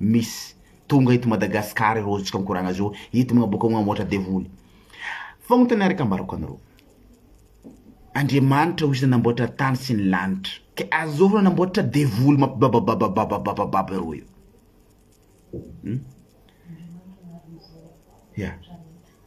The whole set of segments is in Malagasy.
Misy. Tonga eto Madagascar ireo ozotsika mikoragna zao hitomagna bôka agny ôhatra devoly. Fagnotaniana araka ambarako anareo. Andriamanitra ozy nanamboatra tany sy ny lanitra ke azôvy reo nanamboatra devoly mampibabababababababababa ireo io? Hum? Ya.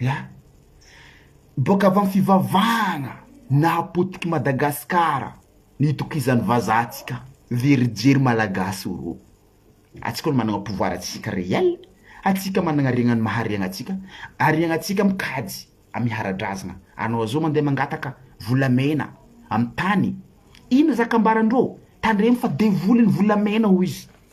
An! Boaka avy amin'ny fivavahana nahapotiky Madagasikara ny itokizan'ny vazaha antsika very jery Malagasy o rô! Antsika no manana pouvoir antsika réel, antsika manana regnany maharegna antsika, ary ianantsika mikajy amin'ny hara-drazana, anao zao mandeha mangataka volamena amin'ny tany, inona zaka ambaran-drô? Tandremo fa devoly ny volamena hoy izy.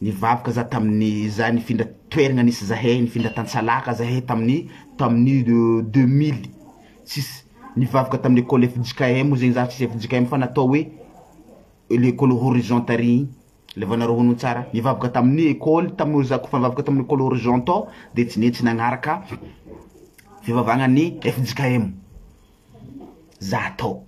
Nivavaka za tamin'ny za nifindra toeragna nisy zahay nifindra tantsalaka zahay tamin'ny tamin'ny deux mille six nivavaka tamin'ny ecole fjkm moa zegny za tsisy fjkm fa natao hoe le ecole horizon tary igny le vao nareo hono tsara nivavaka tamin'ny ecole tamin'io za kôfa nivavaka tamin'ny ecole horizon tao de tsy netsy nagnaraka fivavahagna ny fjkm za tao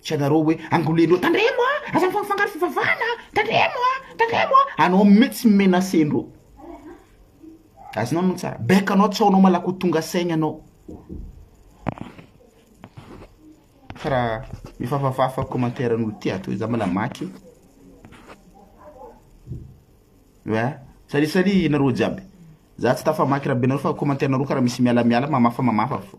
Tsy anareo hoe angolen'ireo tandremo a, aza mifangafangaro fivavahana a, tandremo a, tandremo a, anao mitsy no menacen'ireo. Azonao no tsara, bec anao tsy aonao malaky ho tonga saigny anao. Fa raha mifafafafa commentaire an'olo ty ato za mbola maky. Oa, salut salut nareo jiaby. Za tsy tafamaky raha be nareo fa commentaire nareo kara misy miala miala mamafa mamafa fô.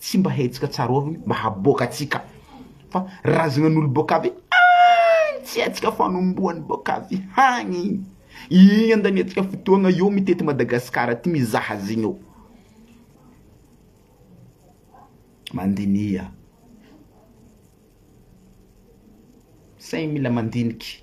Tsy mba hetsika tsarovigny mba haboaka atsika fa razignan'olo boaka avy agny tsy hetsika fanombohany boaka avy hagny igny igny andaniantsika fotoagna eo mitety Madagascar aty mizaha azy igny eo mandiniha saigny mila mandiniky.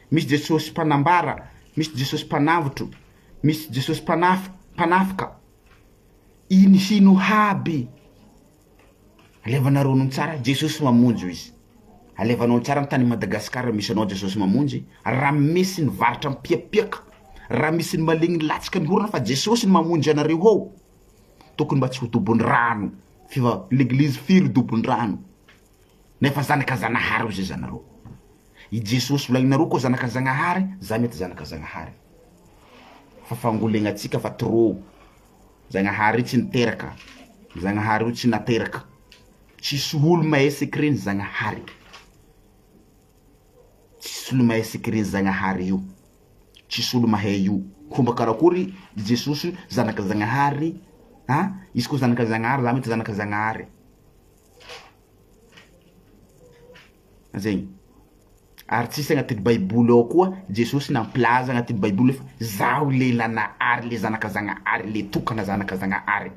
Misy Jesosy mpanambara, misy Jesosy mpanavotro, misy Jesosy mpanafy, mpanafika. Ino sy ino aby? Alevanareo anao tsara, Jesosy mamonjy hoy izy. Alevanao tsara ny tany Madagasikara misy anao Jesosy mamonjy, raha misy ny varotra mipiapiaka, raha misy ny malemy milatsaka mihorona fa Jesosy no mamonjy anareo ao. Tokony mba tsy ho dobon-drano, fiva- l'église firy dobon-drano. Nefa zanaka Zanahary ozy zanareo. I Jesosy volaninareo koa zanaka Zagnahary, za mety zanaka Zagnahary. Fa fangolegnantsika fa trop. Zagnahary io tsy niteraka. Zagnahary io tsy nateraka. Tsisy olo mahay secret ny Zagnahary. Tsisy olo mahay secret ny Zagnahary io. Tsisy olo mahay io. Fomba karakory i Jesosy zanaka Zagnahary, a izy koa zanaka Zagnahary, za mety zanaka Zagnahary. Zegny, ary tsisy agnatin'ny baiboly ao koa Jesosy nampilaza agnatin'ny baiboly hoe zaho le nanahary le zanaka zagnahary le tokana zanaka zagnahary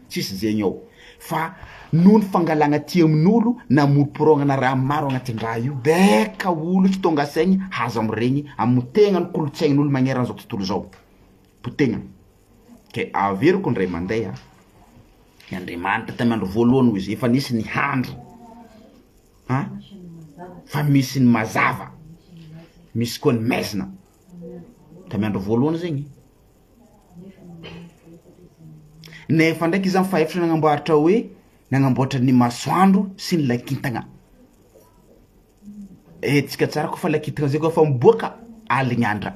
tsisy zegny ao fa noho ny fangalagna aty amin'olo namoromporôgnana raha maro agnatin-draha io baika olo tsy tônga saigny haza miregny amy tegna ny kolotsain'olo magneran-zao tontolo zao potegna. Ke averiko indray mandeha an! I Andriamanitra tamy andro voalohany hoy izy efa nisy ny handry an! Fa misy ny mazava, misy koa ny maizina, tamy andro voalohany zegny, nefa ndraiky izany fa efatra nagnamboaratra hoe nagnamboatra ny masoandro sy ny lakintagna, hetsika tsara koa fa lakintagna zay koa fa miboaka aligny andra.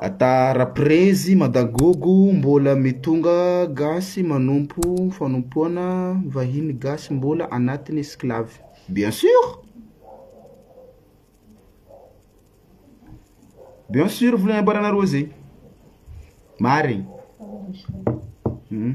Ata raprezy madagogo mbola mitonga gasy manompo fanompoana vahiny gasy mbola anatiny esclave bien sûr bien sûr vola nambaranareo zay marigny hmm.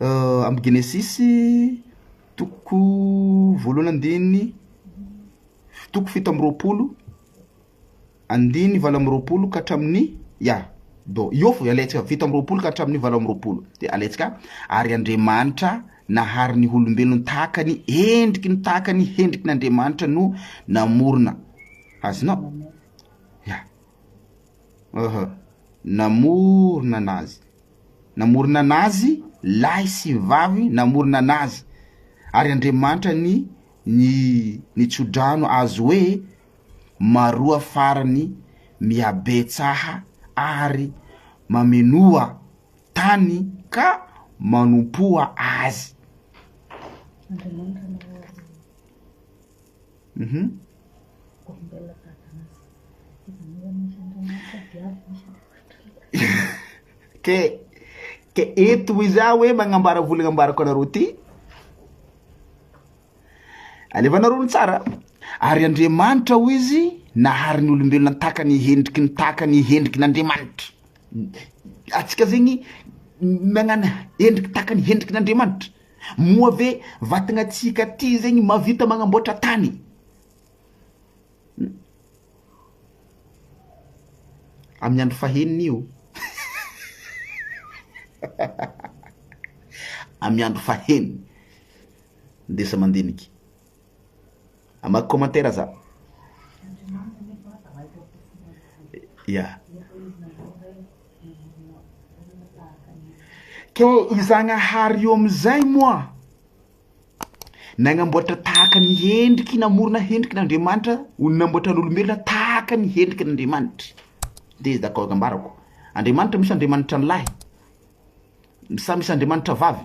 Amin'ny Genesisy toko voalohany andininy toko fito amby roapolo andininy valo amby roapolo ka hatramin'ny ya do io fo alaintsika fito amby roapolo ka hatramin'ny valo amby roapolo de alaintsika ary Andriamanitra nahary ny olombelona tahaka ny endriky ny tahaka ny hendriky ny Andriamanitra no namorona azonao ya Aha. Namorona an'azy. Namorona an'azy, lahy sy vavy namorona an'azy. Ary Andriamanitra ny ny ny tsodrano azy hoe maroa farany mihabetsaha ary mamenoa tany ka manompoa azy. Ke, ke eto hoy za hoe magnambara vola nambarako anareo ty, alevanareo ny tsara, ary Andriamanitra hoy izy nahary ny olombelona tahaka ny hendriky ny tahaka ny hendriky ny Andriamanitra, atsika zegny nagnana hendriky tahaka ny hendriky ny Andriamanitra. Moa ve vatagna tsika aty zegny mavita magnamboatra tany? Amin'ny andro fahenina io amin'ny andro fahenina ndesa mandiniky Hamaky commentaire za. Ya. Ke i Zagnahary io amin'izay moa nagnamboatra tahaka ny hendriky namorona hendriky n'Andriamanitra ho namboatra ny olombelona tahaka ny hendriky n'Andriamanitra. Dia izy dakao ambarako. Andriamanitra misy Andriamanitra ny lahy. Samy misy Andriamanitra vavy.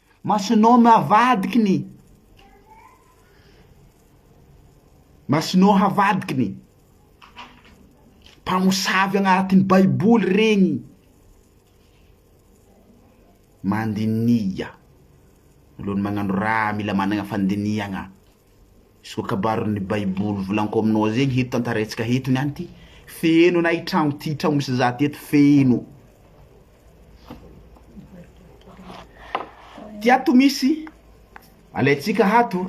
Masonao no havadiky ny. Masonao havadiky ny. Mpamosavy agnaratin'ny baiboly regny. Mandiniha. Alohan'ny magnano raha mila managna fandinihagna. Soa-kabarin'ny Baiboly volanko aminao izay ny hety tantaraintsika eto niany ity. Feno na i tragno ity tragno misy za teto feno. Ty ato misy alaintsika hato.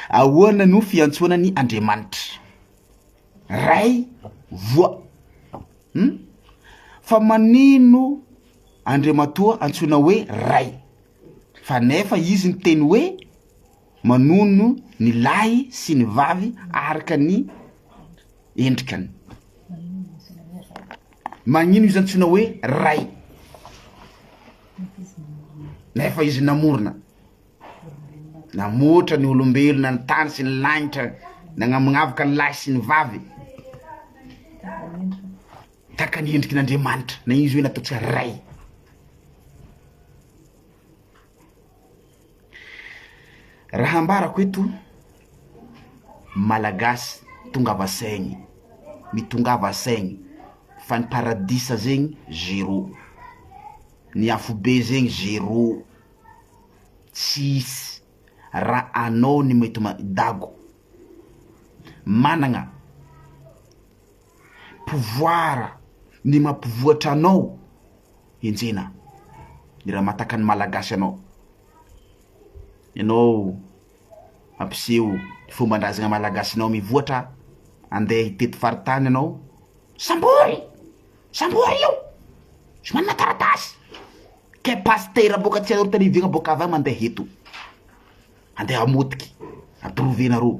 Ahoana no fiantsoana ny Andriamanitra? Ray voa. Hmm? Fa manino Andriamatoa antsoina hoe Ray? Fa nefa izy niteny hoe, Manono ny lahy sy ny vavy araka ny endrikany. Magnino izy antsoina hoe ray? Nefa izy namorona, namoatra ny olombelona, ny tany sy ny lanitra, nagnamognavoka ny lahy sy ny vavy. Tahaka ny endriky n'Andriamanitra, na izy hoe natao tsy ary Ray. Raha hambarako eto, Malagasy tongava saigny, mitongava saigny fa ny paradisa zegny zero, ny afobe zegny zero, tsisy raha anao ny mety ma- dago managna pouvoir ny mampivoatra anao enjehina ny raha mahataka ny malagasy anao ianao ampiseho ny fomban-drazana malagasinao mivoatra andeha hitety faritany ianao sambory sambory io tsy manana taratasy kay pasitera boaka tsy aorita ny vina boaka avy any mandeha eto andeha hamotika ampirove nareo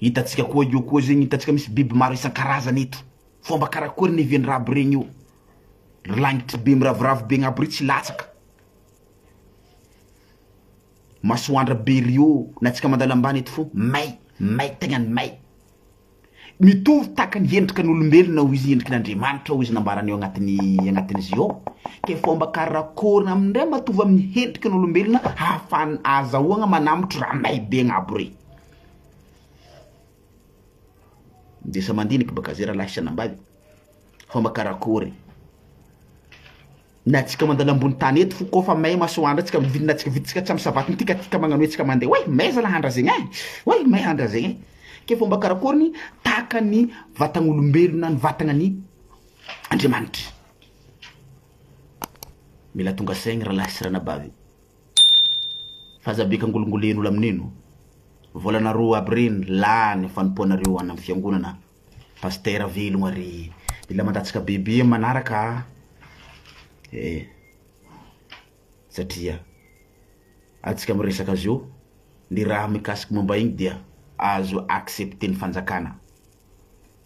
Hitantsika koa io koa zegny hitantsika misy biby maro isan-karazany eto, fomba karakory ny even'ny raby regny io, ry lagnitry be miraviravy be agnabo re tsy latsaka, masoandra be rio na tsika mandalo ambany eto fô may, may tegna ny may, mitovy tahaka ny endrika ny olombelona hoy izy endriky ny Andriamanitra hoy izy nambarany ao agnatin'ny agnatin'izy io, ke fomba karakory na amindray matoa amin'ny endriky ny olombelona hahafahana azahoagna manambotry raha may be agnabo re. Ndesa mandinika ba gazera lahy sy anambavy fa ma karakory? na tsika mandalo ambony tany eto fo ko fa may masoandra tsika mivilina tsika viditsika tsy am savaty tika tika magnano hoe tsika mande oay may zalahy andra zegny ein oay may andra zegny ein ke fomba karakory ny tahaka ny vatan'olombelona ny vatagna ny Andriamanitry mila tonga saigny ralahy sy ranabavy. Aza be kangolingoleno lamineno. Volana roa aby reny lany fanompoanareo any am fiangonana Pasitera velogna re Mila mandatsaka bebe am manaraka a e satria atsika miresaka azy eo ny raha mikasiky momba igny dia azo accepter ny fanjakana.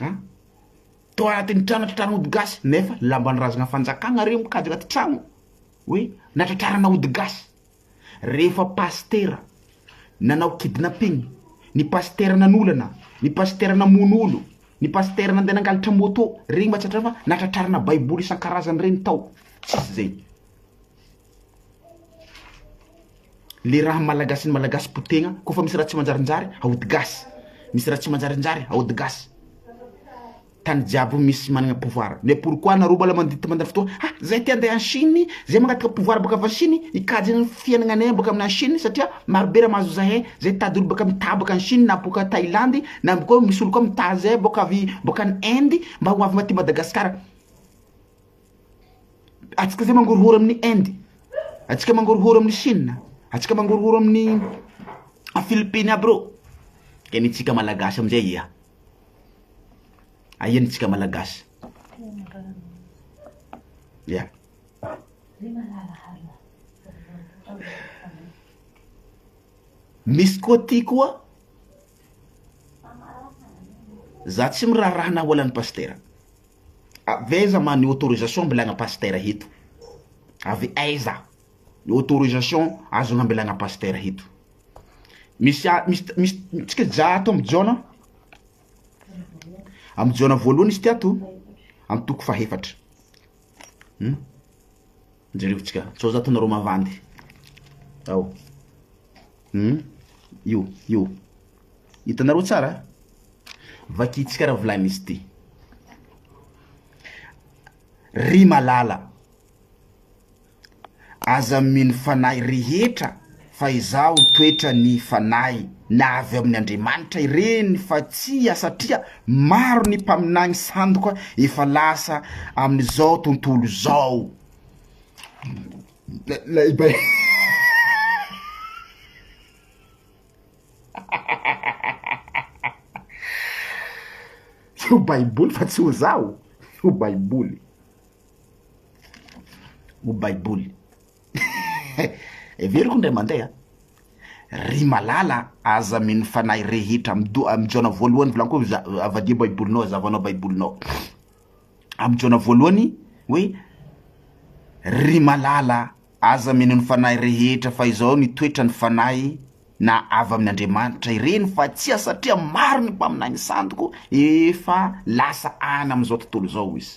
a! tao anatin'ny trano natratrarana ody gasy nefa lamban'ny razana fanjakana re mikajy anaty trano hoe natratrarana ody gasy rehefa pasitera nanao kidnapping, ny pasitera nanolana, ny pasitera namono olo, ny pasitera nandeha nangalatra moto, regny mba tsy hatrany fa natratrarana baiboly isan-karazany regny tao, tsisy zay. Le raha malagasy ny malagasy potegna ko fa misy raha tsy manjarinjary aody gasy misy raha tsy manjarinjary aody gasy tany jiaby misy manana pouvoir mais pourquoi anareo mbola mandidy tsy mandany fotoagna ha zay te ande any chine zay mangataka pouvoir baka avy any chine hikajy ny fiainagnanay baka amina chine satria maro be raha mahazo zahay zay tady olo baka mitady baka any chine na boka thailandy na amby koa misy olo koa mitady zay boka avy boka any inde mba ho avy aty madagasikara. Antsika izay mangorohoro amin'ny Inde, antsika mangorohoro amin'ny Chine, antsika mangorohoro amin'ny Philippines aby reo, dia ny antsika Malagasy amin'izay aia? Aia ny antsika Malagasy? Ia. Misy koa ty koa, za tsy miraharaha na ho alan'i Pasitera. Avy aiza ma ny autorisation ambilagna pasitera eto? Avy aiza ny autorisation azonao ambilagna pasitera eto? Misy a misy misy tsika hijaha ato amin'ny Jaona amin'ny Jaona voalohany izy ity ato amin'ny toko fahefatra. Jereo tsika sao za ataonareo mavandy ao hum io io hitanareo tsara vakintsika raha volainy izy ity ry malala aza mino fanahy rehetra Fa izaho toetra ny fanahy na avy ao amin' Andriamanitra ireny fa tsia satria maro ny mpaminany sandoka efa lasa amin' izao tontolo izao. Io baiboly fa tsy ho zaho io baiboly io baiboly. Heveriko indray mandeha a! Ry malala a, aza mino fanahy rehetra amin'ny do-, amin'ny Jaona voalohany volaniko hoe za-, avadiho baibolinao, azavanao baibolinao, amin'ny Jaona voalohany hoe, ry malala a, aza mino ny fanahy rehetra fa izao ny toetra ny fanahy na avy amin'Andriamanitra ireny fa tsia satria maro ny mpaminany santoko efa lasa any amin'izao tontolo izao hoy izy.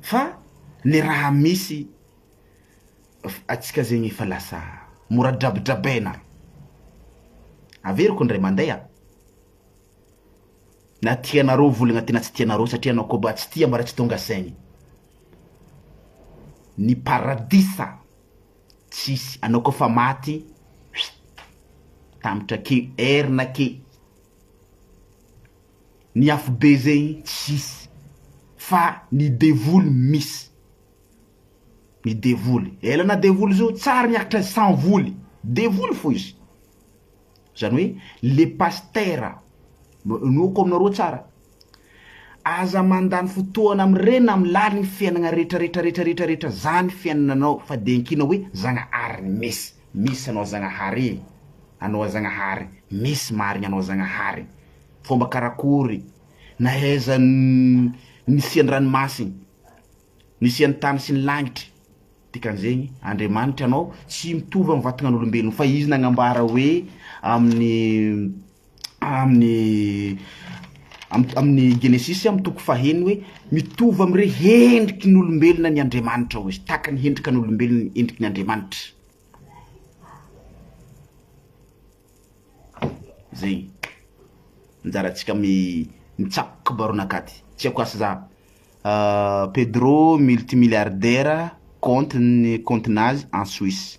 Fa le raha misy atsika zegny efa lasa mora drabidrabaina. Averiko ndray mandeha a. Na tianareo voligna ty na tsy tianareo satria anao koa ba tsy tia mba raha tsy tonga saigny. Ny paradisa tsisy anao koa fa maty tambitra akeo air-na akeo. Ny afobe zegny tsisy fa ny devoly misy. Ny devoly ela na devoly zo tsary miakatra sans voly devoly fo izy zany hoe le pastera inoako aminareo tsara aza mandany fotoana am reny am laliny fiainagna retraretraretraretraretra zany fiainananao fa de ankina hoe zagnahary misy Misy anao Zagnahary e! Anao Zagnahary, misy marigny anao Zagnahary! Fomba karakory nahaiza ny nisian'ny ranomasigny, nisian'ny tany sy ny lagnitry, dikan'izegny, Andriamanitry anao tsy mitovy amin'ny vatagnan'olombelogno, fa izy nagnambara hoe amin'ny. amin'ny amin'ny Genesisy amin'ny toko faheno hoe mitovy amin'ireo hendriky ny olombelona ny Andriamanitra hoy izy, tahaka ny hendrika ny olombelona ny hendriky ny Andriamanitra. Zay. Anjara antsika amin'ny mitsako kibaronakady. Tsy haiko asa za. Uh, Pedro multimilliardaire compte ny compte nazy en Suisse.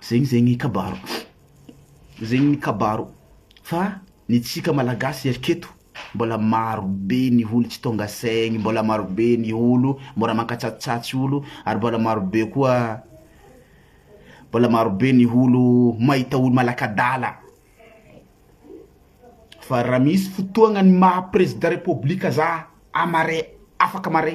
Zegny zegny kabaro zegny ny kabaro fa ny tsika malagasy eto mbola maro be ny olo tsy tonga saigny mbola maro be ny olo mbola mankatsatsatsy olo ary mbola maro be koa mbola maro be ny olo mahita olo malakadala fa raha misy fotoagna ny maha prezida repoblika za amare afaka mare.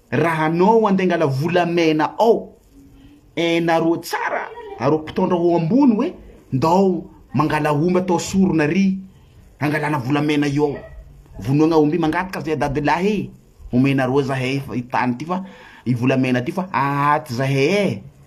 Raha anao andeha angala volamena ao eh nareo tsara areo mpitaondra ao ambony hoe ndao mangala omby atao sorona ary angalana volamena eo ao vonoagna omby mangataka zay dadilahy eh omenareo zahay fa i tany ty fa i volamena ty fa ahaty zahay eh.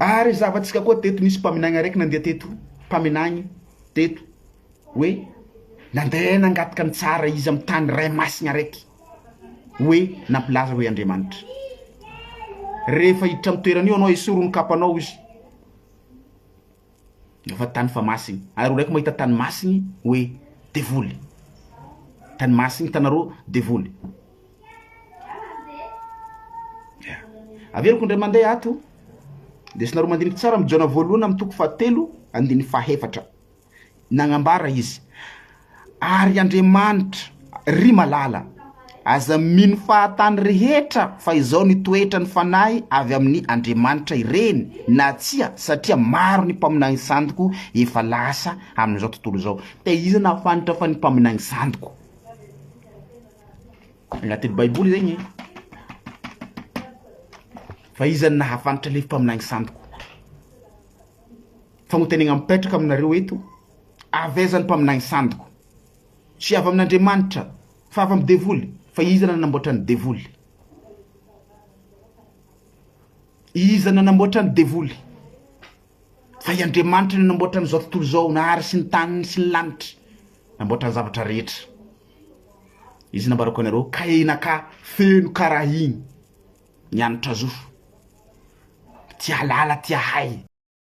Ary zava-tsika koa teto nisy mpaminany araiky nandeha teto mpaminany teto hoe nandeha nangataka ny tsara izy amin'ny tany ray masina araiky hoe nampilaza hoe Andriamanitra rehefa hiditra amin'ny toerana io anao esory ny kapanao izy Efa tany fa masiny ary olona eko mahita tany masiny hoe devoly tany masiny hitanareo devoly averiko indray mandeha ato lesinareo mandiniky tsara mijaona voalohany amin'ny toko fahatelo andininy fahefatra Nagnambara izy, Ary Andriamanitra, ry malala, aza mino fahatany rehetra fa izao ny toetra ny fanahy avy amin'ny Andriamanitra ireny na tsia satria maro ny mpaminany santoko efa lasa amin'izao tontolo izao. Dia iza nahafanitra fa ny mpaminany santoko? Agnatin'ny baiboly zegny e! Fa iza nahafanitra le mpaminany santoko? Fanontaniana mipetraka aminareo eto, avy aiza ny mpaminany sandiko? Tsy avy amin'Andriamanitra, fa avy amin'ny devoly. Fa iza nanamboatra ny devoly? Iza nanamboatra ny devoly? Fa i Andriamanitra no nanamboatra an'izao tontolo izao, nahary sy ny taniny sy ny lanitra, namboatra ny zavatra rehetra. Izy nambarako anareo, ka enaka feno karahiny, ny hanitra zofo, tia halala, tia hay.